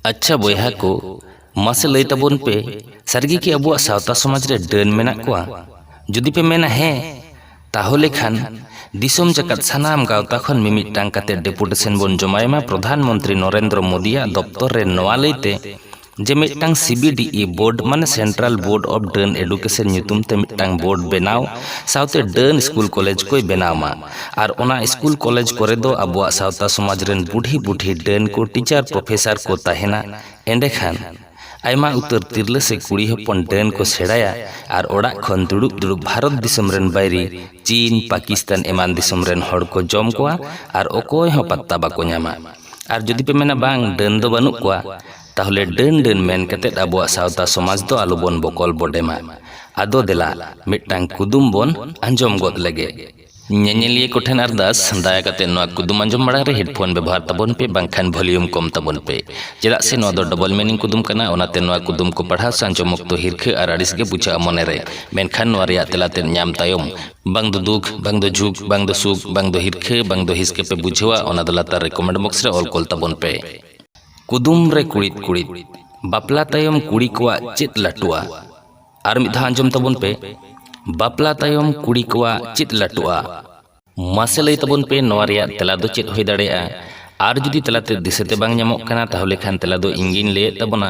ᱟᱪᱪᱷᱟ ᱵᱚᱭᱦᱟ ᱠᱚ ᱢᱟᱥᱮ ᱞᱟᱹᱭ ᱛᱟᱵᱚᱱ ᱯᱮ ᱥᱟᱹᱨᱤᱜᱮ ᱠᱤ ᱟᱵᱚᱣᱟᱜ ᱥᱟᱶᱛᱟ ᱥᱚᱢᱟᱡᱽ ᱨᱮ ᱰᱟᱹᱱ ᱢᱮᱱᱟᱜ ᱠᱚᱣᱟ ᱡᱩᱫᱤ ᱯᱮ ᱢᱮᱱᱟ ᱦᱮᱸ ᱛᱟᱦᱚᱞᱮ ᱠᱷᱟᱱ ᱫᱤᱥᱚᱢ ᱡᱟᱠᱟᱛ ᱥᱟᱱᱟᱢ ᱜᱟᱶᱛᱟ ᱠᱷᱚᱱ ᱢᱤᱢᱤᱫᱴᱟᱝ ᱠᱟᱛᱮ ᱰᱮᱯᱩᱴᱮᱥᱚᱱ ᱵᱚᱱ ᱡᱚᱢᱟᱭ ᱢᱟ ᱯᱨᱚᱫᱷᱟᱱ ᱢᱚᱱᱛᱨᱤ ᱱᱚᱨᱮᱱᱫᱨᱚ ᱢᱳᱫᱤᱭᱟᱜ ᱫᱚᱯᱛᱚᱨ ᱨᱮ ᱱᱚᱣᱟ ᱞᱟᱹᱭᱛᱮ ᱡᱮ ᱢᱤᱫᱴᱟᱝ ᱥᱤᱵᱤᱰᱤᱤ ᱵᱳᱨᱰ ᱢᱟᱱᱮ ᱥᱮᱱᱴᱨᱟᱞ ᱵᱳᱨᱰ ᱚᱯᱷ ᱰᱟᱹᱱ ᱮᱰᱩᱠᱮᱥᱚᱱ ᱧᱩᱛᱩᱢ ᱛᱮ ᱢᱤᱫᱴᱟᱝ ᱵᱳᱨᱰ ᱵᱮᱱᱟᱣ ᱥᱟᱶᱛᱮ ᱰᱟᱹᱱ ᱥᱠᱩᱞ ᱠᱚᱞᱮᱡᱽ ᱠᱚᱭ ᱵᱮᱱᱟᱣ ᱢᱟ ᱟᱨ ᱚᱱᱟ ᱤᱥᱠᱩᱞ ᱠᱚᱞᱮᱡᱽ ᱠᱚᱨᱮ ᱫᱚ ᱟᱵᱚᱣᱟᱜ ᱥᱟᱶᱛᱟ ᱥᱚᱢᱟᱡᱽ ᱨᱮᱱ ᱵᱩᱰᱷᱤ ᱵᱩᱰᱷᱤ ᱰᱟᱹᱱ ᱠᱚ ᱴᱤᱪᱟᱨ ᱯᱨᱚᱯᱷᱮᱥᱟᱨ ᱠᱚ ᱛᱟᱦᱮᱱᱟ ᱮᱸᱰᱮ ᱠᱷᱟᱱ ᱟᱭᱢᱟ ᱩᱛᱟᱹᱨ ᱛᱤᱨᱞᱟᱹ ᱥᱮ ᱠᱩᱲᱤ ᱦᱚᱯᱚᱱ ᱰᱟᱹᱱ ᱠᱚ ᱥᱮᱬᱟᱭᱟ ᱟᱨ ᱚᱲᱟᱜ ᱠᱷᱚᱱ ᱫᱩᱲᱩᱵ ᱫᱩᱲᱩᱵ ᱵᱷᱟᱨᱚᱛ ᱫᱤᱥᱚᱢ ᱨᱮᱱ ᱵᱟᱹᱭᱨᱤ ᱪᱤᱱ ᱯᱟᱠᱤᱥᱛᱟᱱ ᱮᱢᱟᱱ ᱫᱤᱥᱚᱢ ᱨᱮᱱ ᱦᱚᱲ ᱠᱚ ᱡᱚᱢ ᱠᱚᱣᱟ ᱟᱨ ᱚᱠᱚᱭ ᱦᱚᱸ ᱯᱟᱛᱛᱟ ᱵᱟᱠᱚ ᱧᱟᱢᱟ ᱟᱨ ᱡᱩᱫᱤ ᱯᱮ ᱢᱮᱱᱟ ᱵᱟᱝ ᱰᱟᱹᱱ ᱫᱚ ᱵᱟᱹᱱᱩᱜ ᱠᱚᱣᱟ ᱛᱟᱦᱚᱞᱮ ᱰᱟᱹᱱ ᱰᱟᱹᱱ ᱢᱮᱱ ᱠᱟᱛᱮᱫ ᱟᱵᱚᱣᱟᱜ ᱥᱟᱶᱛᱟ ᱥᱚᱢᱟᱡᱽ ᱫᱚ ᱟᱞᱚ ᱵᱚᱱ ᱵᱚᱠᱚᱞ ᱵᱚᱰᱮᱢᱟ ᱟᱫᱚ ᱫᱮᱞᱟ ᱢᱤᱫᱴᱟᱝ ᱠᱩᱫᱩᱢ ᱵᱚᱱ ᱟᱸᱡᱚᱢ ᱜᱚᱫ ᱞᱮᱜᱮ ᱧᱮᱧᱮᱞᱤᱭᱟᱹ ᱠᱚᱴᱷᱮᱱ ᱟᱨᱫᱟᱥ ᱫᱟᱭᱟ ᱠᱟᱛᱮ ᱱᱚᱣᱟ ᱠᱩᱫᱩᱢ ᱟᱸᱡᱚᱢ ᱢᱟᱲᱟᱝ ᱨᱮ ᱦᱮᱰᱯᱷᱳᱱ ᱵᱮᱵᱚᱦᱟᱨ ᱛᱟᱵᱚᱱ ᱯᱮ ᱵᱟᱝᱠᱷᱟᱱ ᱵᱷᱚᱞᱤᱭᱩᱢ ᱠᱚᱢ ᱛᱟᱵᱚᱱ ᱯᱮ ᱪᱮᱫᱟᱜ ᱥᱮ ᱱᱚᱣᱟ ᱫᱚ ᱰᱚᱵᱚᱞ ᱢᱤᱱᱤᱝ ᱠᱩᱫᱩᱢ ᱠᱟᱱᱟ ᱚᱱᱟᱛᱮ ᱱᱚᱣᱟ ᱠᱩᱫᱩᱢ ᱠᱚ ᱯᱟᱲᱦᱟᱣ ᱥᱮ ᱟᱸᱡᱚᱢ ᱚᱠᱛᱚ ᱦᱤᱨᱠᱷᱟᱹ ᱟᱨ ᱟᱹᱲᱤᱥ ᱜᱮ ᱵᱩᱡᱷᱟᱹᱜᱼᱟ ᱢᱚᱱᱮ ᱨᱮ ᱢᱮᱱᱠᱷᱟᱱ ᱱᱚᱣᱟ ᱨᱮᱭᱟᱜ ᱛᱮᱞᱟ ᱛᱮᱫ ᱧᱟᱢ ᱛᱟᱭᱚᱢ ᱵᱟᱝ ᱫᱚ ᱫᱩᱠ ᱵᱟᱝ ᱫᱚ ᱡᱷᱩᱠ ᱵᱟᱝ ᱫᱚ ᱥᱩᱠ ᱵᱟᱝ ᱫᱚ ᱦᱤᱨᱠᱷᱟᱹ ᱵᱟᱝ ᱫᱚ ᱦᱤᱥᱠᱟᱹ ᱯᱮ ᱵᱩᱡᱷᱟᱹᱣᱟ ᱚᱱᱟ ᱫᱚ ᱞᱟᱛᱟᱨ ᱨᱮ ᱠᱚᱢᱮᱱᱴ ᱵᱚᱠᱥ ᱨᱮ ᱚᱞ ᱠᱚᱞ ᱛᱟᱵᱚᱱ ᱯᱮ ᱠᱩᱫᱩᱢ ᱨᱮ ᱠᱩᱲᱤᱫ ᱠᱩᱲᱤᱫ ᱵᱟᱯᱞᱟ ᱛᱟᱭᱚᱢ ᱠᱩᱲᱤ ᱠᱚᱣᱟᱜ ᱪᱮᱫ ᱞᱟᱹᱴᱩᱜᱼᱟ ᱟᱨ ᱢᱤᱫ ᱫᱷᱟᱣ ᱟᱸᱡᱚᱢ ᱛᱟᱵᱚᱱ ᱯᱮ ᱵᱟᱯᱞᱟ ᱛᱟᱭᱚᱢ ᱠᱩᱲᱤ ᱠᱚᱣᱟᱜ ᱪᱮᱫ ᱞᱟᱹᱴᱩᱜᱼᱟ ᱢᱟᱥᱮ ᱞᱟᱹᱭ ᱛᱟᱵᱚᱱ ᱯᱮ ᱱᱚᱣᱟ ᱨᱮᱭᱟᱜ ᱛᱮᱞᱟ ᱫᱚ ᱪᱮᱫ ᱦᱩᱭ ᱫᱟᱲᱮᱭᱟᱜᱼᱟ ᱟᱨ ᱡᱩᱫᱤ ᱛᱮᱞᱟᱛᱮ ᱫᱤᱥᱟᱹᱛᱮ ᱵᱟᱝ ᱧᱟᱢᱚᱜ ᱠᱟᱱᱟ ᱛᱟᱦᱚᱞᱮ ᱠᱷᱟᱱ ᱛᱮᱞᱟ ᱫᱚ ᱤᱧ ᱜᱤᱧ ᱞᱟᱹᱭᱮᱫ ᱛᱟᱵᱚᱱᱟ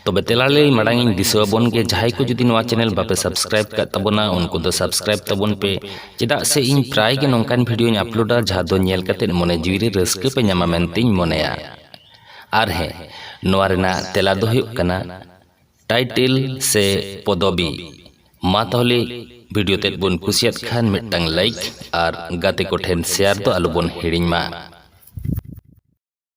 ᱛᱚᱵᱮ ᱛᱮᱞᱟ ᱞᱟᱹᱭ ᱢᱟᱲᱟᱝ ᱤᱧ ᱫᱤᱥᱟᱹ ᱟᱵᱚᱱ ᱜᱮ ᱡᱟᱦᱟᱸᱭ ᱠᱚ ᱡᱩᱫᱤ ᱱᱚᱣᱟ ᱪᱮᱱᱮᱞ ᱵᱟᱯᱮ ᱥᱟᱵᱥᱠᱨᱟᱭᱤᱵ ᱠᱟᱜ ᱛᱟᱵᱚᱱᱟ ᱩᱱᱠᱩ ᱫᱚ ᱥᱟᱵᱥᱠᱨᱟᱭᱤᱵ ᱛᱟᱵᱚᱱ ᱯᱮ ᱪᱮᱫᱟᱜ ᱥᱮ ᱤᱧ ᱯᱨᱟᱭ ᱜᱮ ᱱᱚᱝᱠᱟᱱ ᱵᱷᱤᱰᱤᱭᱳᱧ ᱟᱯᱞᱳᱰᱟ ᱡᱟᱦᱟᱸ ᱫᱚ ᱧᱮᱞ ᱠᱟᱛᱮᱫ ᱢᱚᱱᱮ ᱡᱤᱣᱤ ᱨᱮ ᱨᱟᱹᱥᱠᱟᱹ ᱯᱮ ᱧᱟᱢᱟ ᱢᱮᱱᱛᱮᱧ ᱢᱚᱱᱮᱭᱟ ᱟᱨ ᱦᱮᱸ ᱱᱚᱣᱟ ᱨᱮᱱᱟᱜ ᱛᱮᱞᱟ ᱫᱚ ᱦᱩᱭᱩᱜ ᱠᱟᱱᱟ ᱴᱟᱭᱴᱮᱞ ᱥᱮ ᱯᱚᱫᱚᱵᱤ ᱢᱟ ᱛᱟᱦᱚᱞᱮ ᱵᱷᱤᱰᱤᱭᱳ ᱛᱮᱫ ᱵᱚᱱ ᱠᱩᱥᱤᱭᱟᱫ ᱠᱷᱟᱱ ᱢᱤᱫᱴᱟᱝ ᱞᱟᱭᱤᱠ ᱟᱨ ᱜᱟᱛᱮ ᱠᱚᱴᱷᱮᱱ ᱥᱮᱭᱟᱨ ᱫᱚ ᱟᱞᱚᱵᱚᱱ ᱦᱤᱲᱤᱧ ᱢᱟ